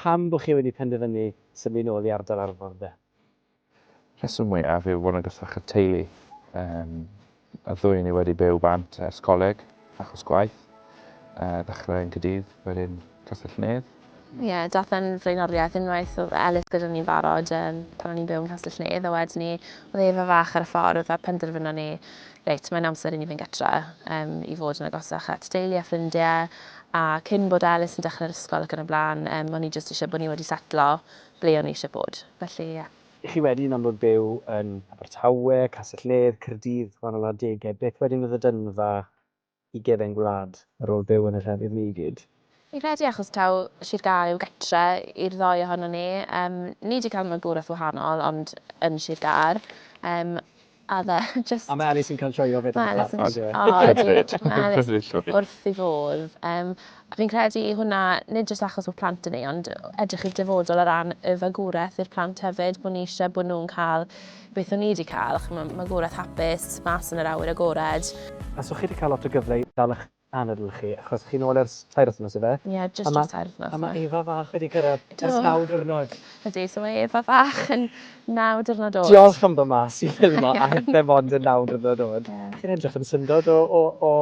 Pam bo chi wedi penderfynu symud nôl i ardal Arfon de? Rheswm mwyaf yw fod yn gysylltach â'r teulu. Y ddwy o ni wedi byw bant ers coleg, achos gwaith. Ddechrau yn Caerdydd, wedyn Castell-nedd. Ie, daeth e'n flaenoriaeth unwaith oedd Elis gyda ni'n barod yym pan o'n i'n byw yn Castell-nedd a wedyn 'ny oedd Eva fach ar y ffordd a penderfynon ni reit mae'n amser i ni fynd gytre yym i fod yn agosach at deulu a ffrindie a cyn bod Elis yn dechrau'r ysgol ac yn y blaen yym o'n i jyst isie bod ni wedi setlo ble o'n i isie bod felly ie. I chi wedyn am fod byw yn Abertawe, Castell-nedd, Caerdydd, wahanol adegau, beth wedyn oedd y dynfa i gefn gwlad ar ôl byw yn y llefydd ni i gyd. Fi'n credu achos taw Sir Gâr yw gartre i'r ddou ohonon ni. Yym, ni 'di cael magwraeth wahanol, ond yn Sir Gâr. Yym, a oedd e jyst... A mae Alys yn cael joio 'fyd yn y fflat, yn dyw e? O, ydy, mae Alys wrth ei fodd. Yym, Fi'n credu i hwnna, nid jyst achos bod plant 'da ni, ond edrych i'r dyfodol o ran y fagwraeth i'r plant hefyd, bod ni eisiau bod nhw'n cael beth o'n ni 'di cael, chimod, magwraeth hapus, mas yn yr awyr agored. Faswch chi 'di cael lot o gyfle i dal eich anadl chi, achos chi'n ôl ers tair wythnos ife? Ie, jyst dros tair wythnos. A ma' Eva fach wedi cyrraedd ers naw diwrnod. Ydy, so mae Eva fach yn naw diwrnod oed. Diolch am dod mas i ffilmo a hithe mond yn naw diwrnod oed. Chi'n edrych yn syndod o o o...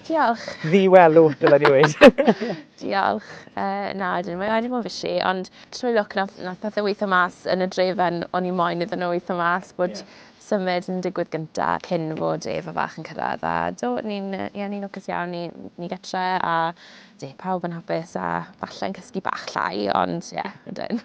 Diolch! ...ddi-welw, dyle ni weud. Diolch. Yy na, ydyn, mae wedi bod yn fishi, ond trwy lwc nath nath pethe weitho mas yn y drefen o'n i moyn iddyn nhw weitho mas bod symud yn digwydd gynta cyn fod Eva fach yn cyrraedd a do, ni'n yy ie ni'n lwcus iawn, ni ni gytre a Ydy, pawb yn hapus a falle yn cysgu bach llai, ond ie, ydyn.